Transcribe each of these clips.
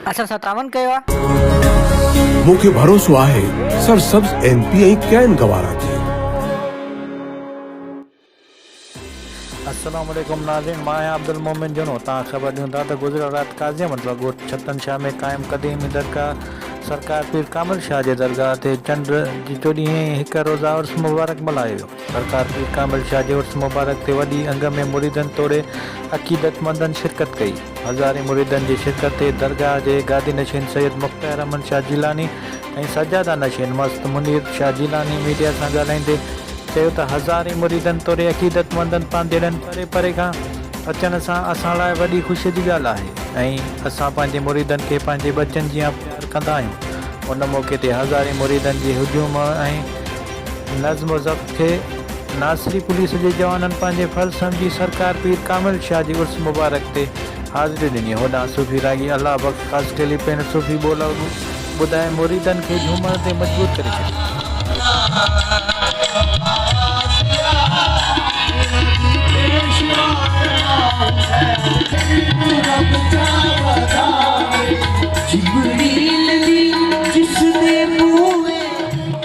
اسان سان تعاون ڪيو آهي. مون کي ڀروسو آهي سرسبز ايم پي ۽ ڪين گوارا تي. السلام عليڪم ناظرين مان آهيان عبدالمومن جنو تان خبر ڏيون ٿا ته گذريل رات قاضي احمد بخش ڳوٺ ڇتن شاهه ۾ قائم قديمي درگاهه سرڪار پير ڪامل شاهه جي درگاهه تي چنڊ جي چوڏهينء هڪ روزه عرس مبارڪ ملهايو ويو. سرڪار پير ڪامل شاهه جي عرس مبارڪ تي وڏي انگ ۾ مريدن توڙي عقيدتمندن شرڪت ڪئي. هزارين مريدن جي شرڪت تي درگاهه جي گادي نشين سيد مختيار احمد شاهه جيلاني ۽ سجاده نشين مست منير شاهه جيلاني ميڊيا سان ڳالهائيندي چيو ته هزارين مريدن توڙي عقيدتمندن پانڌيئڙن پري پري کان اچڻ سان اسان لاء وڏي خوشي جي ڳالهه آهي ۽ اسان پنهنجي مريدن کي پنهنجي ٻچن جيان پيار ڪندا آهيون ان موقعي تي هزارين مريدن جي هجوم ۽ نظم و ضبط کي ناصري پوليس جي جوانن پنهنجي فرض سمجهي سرڪار پير ڪامل شاهه جي عرس مبارڪ تي حاضري ڏني هوڏانهن صوفي راڳي الله بخش خاصخيلي پڻ صوفي ٻولا ٻڌائي مريدن کي جهومڻ تي مجبور ڪري ڇڏيو.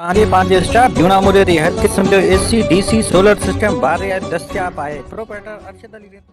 توهان کي پنهنجي اسٽاف جون آمريء تي هر قسم جو A C, D C, solar system بار رعايت دستياب آهي، پروپرائيٽر ارشد علي رينو.